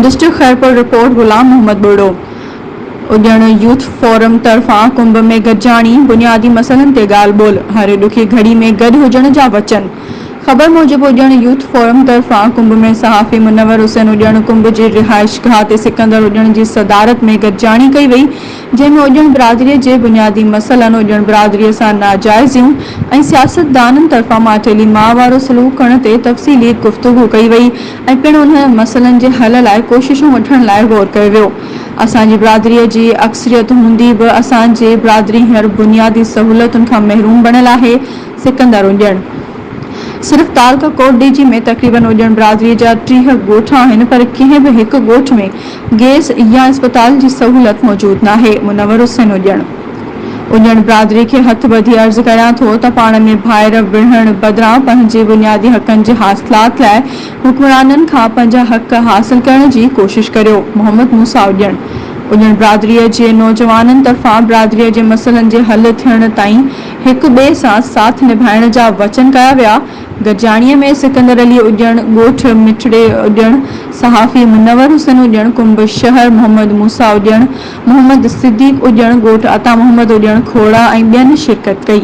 District Khairpur, report, Ghulam Muhammad Burro, Ajan youth forum طرفان ڪنڀ ۾ گڏجاڻي، بنيادي مسئلن تي ڳالهه ٻولهه، هر ڏکي گهڙي ۾ گڏ هجڻ جا وچن. خبر موجب اڄڻ يوٿ فورم طرفان ڪنڀ ۾ صحافي منور حسين اڄڻ ڪنڀ جي رهائشگاهه تي سڪندر اڄڻ جي صدارت ۾ گڏجاڻي ڪئي وئي، جنهن ۾ اڄڻ برادري جي بنيادي مسئلن، اڄڻ برادري سان ناجائزيون ۽ سياستدانن طرفان ماٺيلي ماء وارو سلوڪ ڪرڻ تي تفصيلي گفتگو ڪئي وئي ۽ پڻ انهن مسئلن جي حل لاء ڪوششون وٺڻ لاء غور ڪيو ويو. اسان جي برادري جي اڪثريت هوندي به اسان جي برادري هينئر بنيادي سهولتن کان محروم بڻيل آهي، سڪندر اڄڻ صرف تارڪ ڪوٽ ڊي جي ۾ تقريبن اڄڻ برادري جا ٽيهه ڳوٺ آهن پر ڪنهن به هڪ ڳوٺ ۾ گئس يا اسپتال جي سهولت موجود ناهي منور حسين اڄڻ اڄڻ برادري کي هٿ ٻڌي عرض ڪريان ٿو ته پاڻ ۾ ڀائر وڙهڻ بدران پنهنجي بنيادي حقن جي حاصلات لاء حڪمرانن کان پنهنجا حق حاصل ڪرڻ جي ڪوشش ڪريو محمد موسيٰ اڄڻ اڄڻ برادري جي نوجوانن طرفان برادري جي مسئلن جي حل ٿيڻ تائين هڪ ٻئي سان ساٿ نڀائڻ جا وچن ڪيا ويا. گڏجاڻيء ۾ سڪندر علي اڄڻ، ڳوٺ مٺڙي اڄڻ، صحافي منور حسين اڄڻ، ڪنب شهر محمد موسيٰ اڄڻ، محمد صديق اڄڻ، ڳوٺ عطا محمد اڄڻ کوڙا ۽ ٻين شرڪت ڪئي.